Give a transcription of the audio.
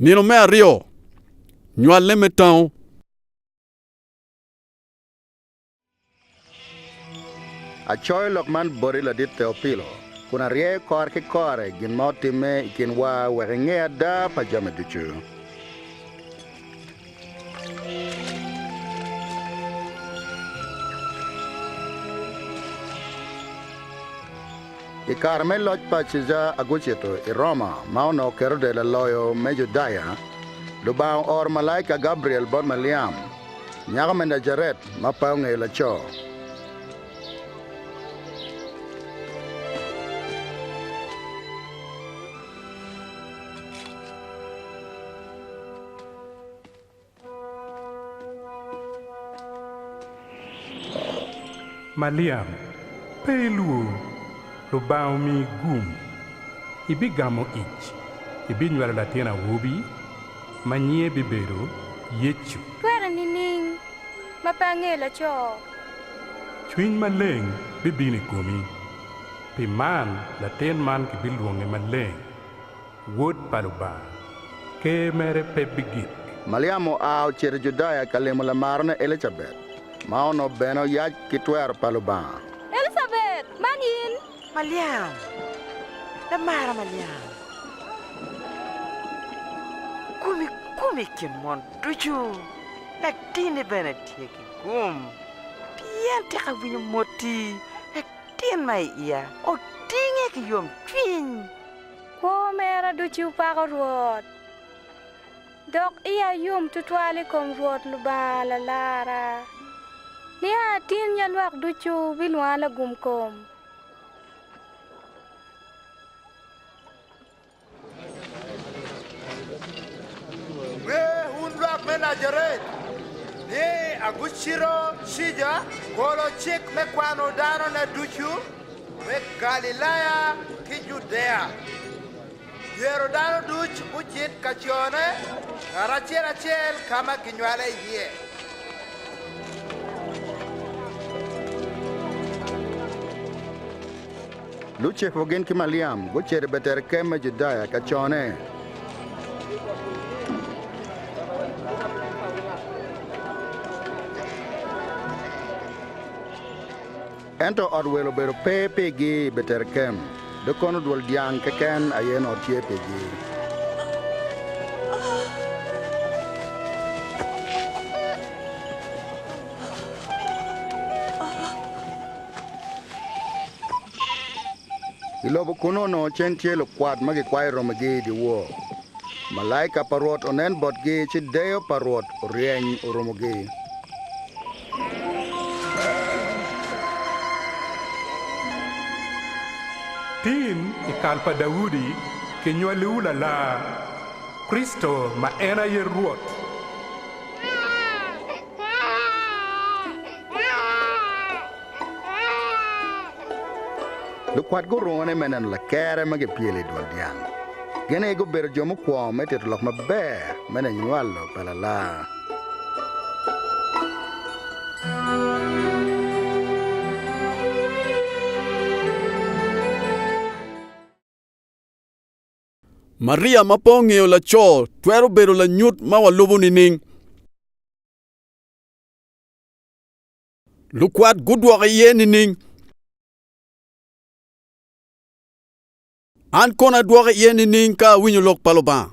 Nino me aryo, nywale me tango. Acoyo lok man boti ladit Teopilo, kun aryeyo kore ki kore gin ma otimme i kinwa wek inge ada pa jami ducu. I kare me loc pa Caeja Agucito i Roma ma onongo Kerode laloyo me Judaya, Lubanga ooro malaika Gabriel bot Maliam, nyako me Najaret ma pe ongeyo laco. Maliam, pe ilwor, Lubanga omiyi gum. Ibigamo ic, ibinywalo latin awobi, ma nyinge bibedo Yecu. Twere nining ma pe angeyo laco? Cwiny Maleng bibino i komi, pi man latin man kibilwonge Maleng. Wod pa Lubanga, ker mere pe bigik. Maliam oa ocito i Judaya ka limo lamarene Elicabet, ma onongo bene oyac ki twero pa Lubanga. Elicabet, man in? Maliam, lamara Maliam, gum i gum i kin mon ducu, latinni bene tye ki gum, pien tek awinyo moti, latin ma i iya otinge ki yomcwiny. Kwo mera ducu pako Rwot, dok iya yom twatwal i kom Rwot Lubanga Lalarra. Nia atin ya lwak ducu bilwonga Lagumkom. Wer. Wer, wun lwak me Najaret, ni agucito cica, golo cik me kwano danone ducu. me Galilaya ki Judea, myero dano ducu gucit ka cone karacel acel ka ma ginywale iye. Lucepu gin ki Maliam gucito i Beterekem me Judaya ka cone. Ento ot welo obedo pe pigi i Beterekem, dong kono dwol dyang keken aye onongo tye pigi. I lobo kunnu onongo cen tye lukwat ma gikwayo romigi i dyewor. Malaika pa Rwot onen botgi, ci deyo pa Rwot oryeny orumogi. Tim i kal pa Daudi kinywaliwu lalar, Kricito ma en aye Rwot. Lukwat gurungone me neno lakere ma gipyelo i dwol dyang. Gin aye gubedo jo mukwo me tito lok maber me nywalo pa lalar. Maria ma pe ongeyo laco twero bedo lanyut ma walubo nining? Lukwat gudwoke iye nining? An kono adwoke iye nining ka awinyo lok pa Lubanga?